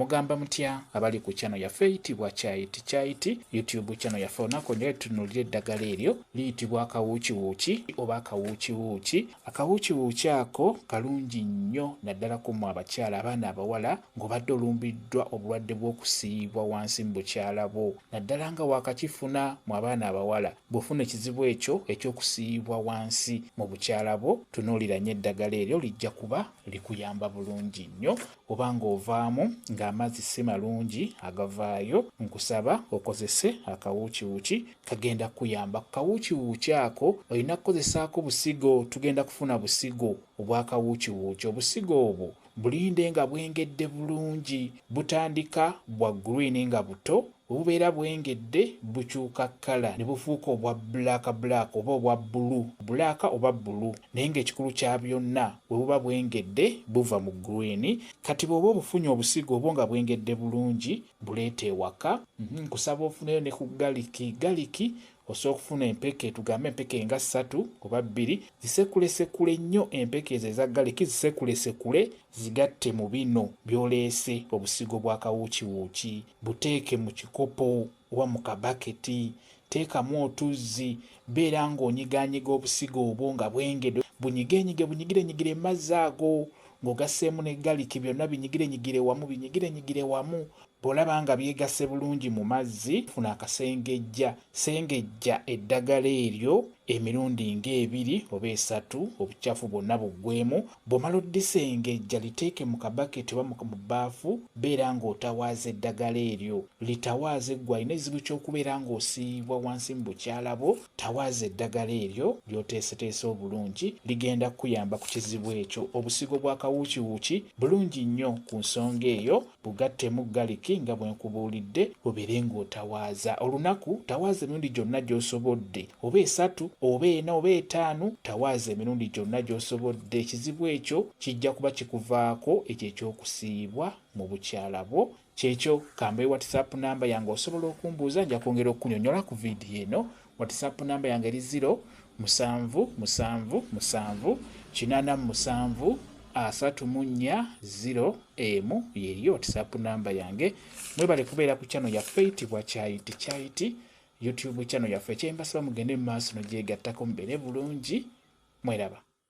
Mugamba mutya abali ku channel yaffe eyitibwa Kyayiti Kyayiti YouTube channel yaffe olunaku olwaleero tunuulira eddagala eryo liyitibwa akawuukiwuuki oba akawuukiwuuki. Akawuukiwuuki ako kalungi nnyo naddala ku mmwe abakyala abaana abawala ng'obadde olumbiddwa obulwadde bw'okusiiyibwa wansi mu bukyala bwo naddala nga waakakifuna mu abaana abawala. Bw'ofuna ekizibu ekyo eky'okusiiyibwa wansi mu bukyala bwo tunuulira nnyo eddagala eryo lijja kuba likuyamba bulungi nnyo. oba ng'ovaamu ng'amazzi si malungi agavaayo, nkusaba okozese akawuukiwuuki kagenda kukuyamba. Ku kawuukiwuuki ako olina kukozesaako busigo, tugenda kufuna busigo obw'akawuukiwuuki. Obusigo obwo bulinde nga bwengedde bulungi, butandika bwa green nga buto Obubeera bwengedde bukyuka kkala ne bufuuka obwa bbulaakabulaaka oba obwa bbulu bbulaaka oba bbulu naye ng'ekikulu kya byonna bwe buba bwengedde buva mu gguliini. Kati bw'oba obufunye obusigo obwo nga bwengedde bulungi buleete ewaka. Nkusaba ofuneyo ne ku galiki. Galiki Osobola okufuna empeke tugambe empeke nga ssatu oba bbiri, zisekulesekule nnyo empeke ezo eza ggaliki zisekulesekule zigatte mu bino by'oleese, obusigo bwa kawuukiwuuki buteeke mu kikopo oba mu kabaketi, teekamu otuzzi, beera ng'onyigaanyiga obusigo obwo nga bwengedwe, bunyigeenyige bunyigirenyigire mu mazzi ago ng'ogasseemu ne ggaliki byonna binyigirenyigire wamu binyigirenyigire wamu Bw'olaba nga byegasse bulungi mu mazzi, funa akasengejja, sengejja eddagala eryo emirundi ng'ebiri oba esatu obucaafu bwonna buggweemu. Bw'omala oddisengejja liteeke mu kabaketi oba mu bbaafu, beera ng'otawaaza eddagala eryo. Litawaaze ggwe alina ekizibu ky'okubeera ng'osiiyibwa wansi mu bukyala bwo, tawaaza eddagala eryo ly'oteeseteese obulungi, ligenda kukuyamba ku kizibu ekyo. Obusigo bw'akawuukiwuuki bulungi nnyo ku nsonga eyo. Bugattemu galiki nga bwe nkubuulidde obeere ng'otawaaza olunaku. Tawaaza emirundi gyonna gy'osobodde oba esatu oba ena oba etaano, tawaaza emirundi gyonna gy'osobodde. Ekizibu ekyo kijja kuba kikuvaako. Ekyo eky'okusiiyibwa mu bukyala bwo kyekyo. Ka mbawe WhatsApp nnamba yange osobola okumbuuza nja kwongera okukunyonnyola ku vidiyo eno Whatsapp namba yange eri ziro musanvu musanvu musanvu kinana musanvu asatu mu nnya ziro emu yeriyo whatsapp namba yange mwebale kubeera ku channel yaffe eyitibwa kyayiti kyayiti youtube channel yaffe ekyembasaba mugende mu maaso nogyegattako mubere bulungi mweraba